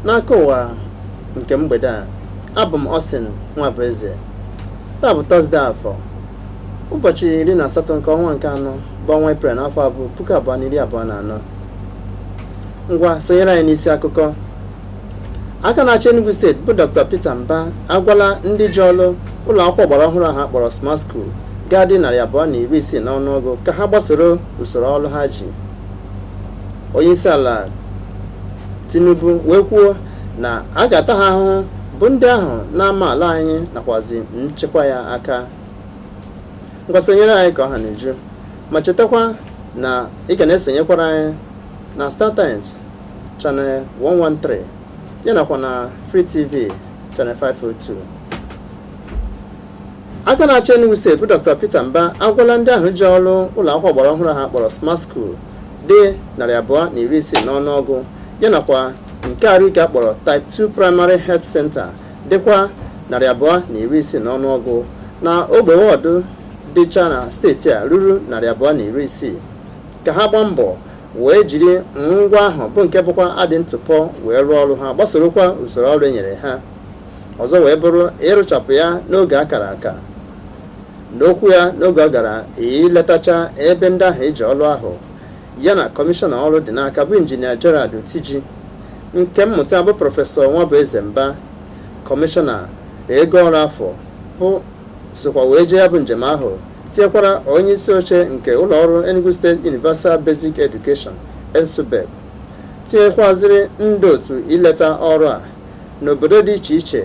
n'akụkọ ụwa nke mgbede a abụ m Austin Nwabueze taa bụ tọzdee afọ ụbọchị iri na asatọ nke ọnwa nke anọ bụ ọnwa eprel n'afọ bụ puku abụọ na iri abụọ na anọ ngwa sonyere anyị n'isi akụkọ aka na-achị Enugu steeti bụ Dr. Peter Mba agwala ndị ji ọrụ ụlọ akwụkwọ ọgbara ọhụrụ ahụ akpọrọ Smart School ga-adị narị abụọ na iri isii n'ọnụọgụ ka ha gbasoro usoro ọrụ ha ji onye isi ala Tinubu wee kwuo na a ga-ata ha ahụhụ bụ ndị ahụ na-ama ala anyị nakwazi nchekwa ya aka ngwa sonyere anyị ka ọ ha na-eju ma chetakwa na ị ga na-esonyekwara anyị na Star Times Channel 113 ya nakwa na Free TV Channel 502 aka na-achị Enugu steeti bụ Dr. Peter Mba agwala ndị ahụ ji ọrụ ụlọ akwụkwọ ọgbara ọhụrụ ha kpọrọ Smart School dị narị abụọ na iri isii n'ọnụọgụ ya nakwa nke arụike akpọrọ Type 2 Primary Health Center dịkwa narị abụọ na iri isii n'ọnụọgụ na ogbe ward dịcha na steeti a ruru narị abụọ na iri isii ka ha gbaa mbọ wee jiri ngwongwo ahụ bụ nke bụkwa adị ntụpọ wee rụọ ọrụ ha gbasorokwa usoro ọrụ e nyere ha ọzọ wee bụrụ ịrụchapụ ya n'oge akara aka n'okwu ya n'oge ọ gara iletacha ebe ndị ahụ eji ọrụ ahụ ya na kọmishọna ọrụ dị n'aka bụ injinia Gerald Otiji nke mmụta bụ prọfesọ Nwabueze Mba kọmishọna ego ọrụ afọ bụ sokwa wee jee ya bụ njem ahụ tinyekwara onye isi oche nke ụlọ ọrụ Enugu State Universal Basic Education ENSUBEB tinyekwaziri ndị otu ileta ọrụ a n'obodo dị iche iche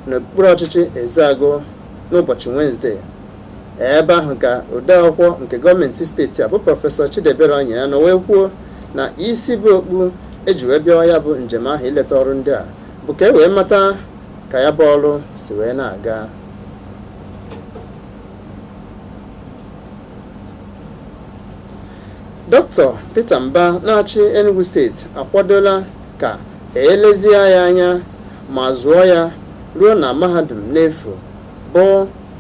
n'okpuru ọchịchị Ezeagu n'ụbọchị Wenesde ebe ahụ ka odeakwụkwọ nke gọọmenti steeti a bụ prọfesọ Chidiebere Onyia nọ wee kwuo na isi bu okpu eji wee bịawa ya bụ njem ahụ ileta ọrụ ndị a bụ ka e wee mata ka ya bụ ọrụ si wee na-aga dọkịta peter mba na-achị enugu steeti akwadola ka e lezie ya anya ma zụọ ya ruo na mahadum n'efu bụ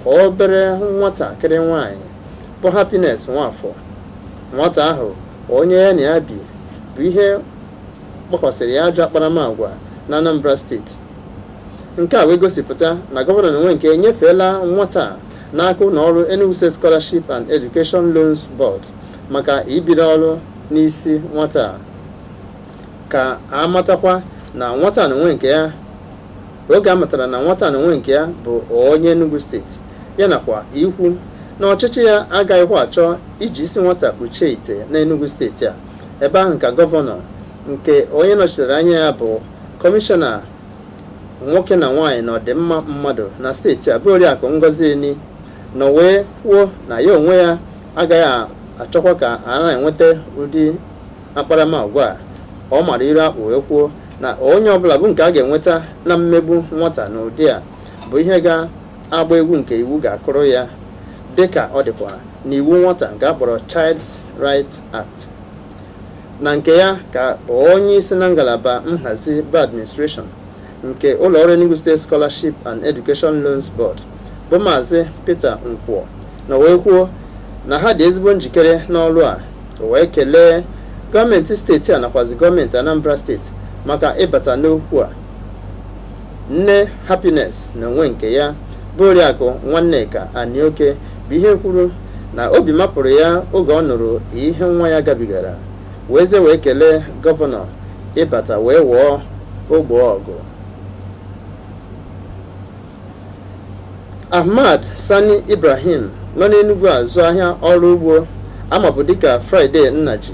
obere nwatakịrị nwanyị bụ happiness nwafọ nwata ahụ onye ya na ya bibu ihe kpakwasịrị ya ajọ akparamagwa na anambra steeti nke a wee gosipụta na gọvanọ n'onwe nke enyefeela nwata a n'aka ụlọ ọrụ Enugu State Scholarship and Education Loans Board maka ibido ọrụ n'isi nwata a ka a matakwa na nwata a n'onwe nke ya oge a matara na nwata a n'onwe nke ya bụ onye Enugu steeti ya nakwa ikwu na ọchịchị ya agaghịkwa achọ iji isi nwata kpuchie ite n'Enugu steeti a ebe ahụ ka gọvanọ nke onye nọchitere anya ya bụ kọmishọna nwoke na nwaanyị na ọdịmma mmadụ na steeti a bụ oriakụ Ngozi Enih nọ wee kwuo na ya onwe ya agaghị achọkwa ka a na-enweta ụdị akparamagwa a ọ mara iru akpụ wee kwuo na onye ọbụla bụ nke a ga-enweta na mmegbu nwata n'ụdị a bụ ihe ga-agba egwu nke iwu ga-akụrụ ya dịka ọ dịkwa n'iwu nwata nke a kpọrọ Child's Right Act Na nke ya ka onye isi na ngalaba nhazi bụ administration nke ụlọọrụ Enugu State Scholarship and Education Loans Board bụ Maazị Peter Nkwọ nọ wee kwuo na ha dị ezigbo njikere n'ọrụ a wee kelee gọọmenti steeti a nakwazi gọọmenti Anambra steeti maka ịbata n'okwu a nne Happiness n'onwe nke ya bụ oriakụ Nwanneka Anioke bụ ihe kwuru na obi mapụrụ ya oge ọ nụrụ ihe nwa ya gabigara wee ze wee kelee gọvanọ ịbata wee wụọ ogbo ọgụ Ahmad Sani Ibrahim nọ n'Enugwu azụ ahịa ọrụ ugbo a mabu dịka Friday Nnaji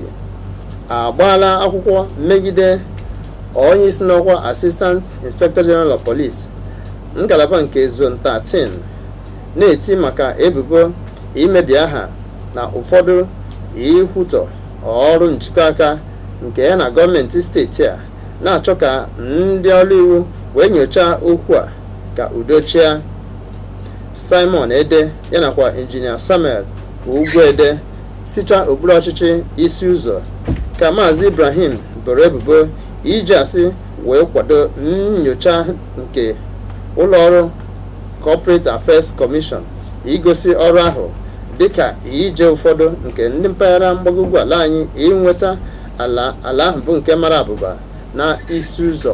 agbaala akwụkwọ megide onye isi n'ọkwa Assistant Inspector General of Police ngalaba nke Zone 13 na-eti maka ebubo imebi aha na ụfọdụ ikwutọ ọrụ njikọ aka nke ya na gọọmenti steeti a na-achọ ka ndị ọrụ iwu wee nyochaa okwu a ka udo chịa Simon Ede ya nakwa injinia Samuel Ugwuede sicha okpuru ọchịchị Isi Ụzọ ka Maazị Ibrahim boro ebubo iji asị wee kwado nnyocha nke ụlọọrụ Corporate Affairs Commission igosi ọrụ ahụ dịka ije ụfọdụ nke ndị mpaghara mgbago ugwu ala anyị inweta ala ahụ bụ nke mara abụba n'Isi Ụzọ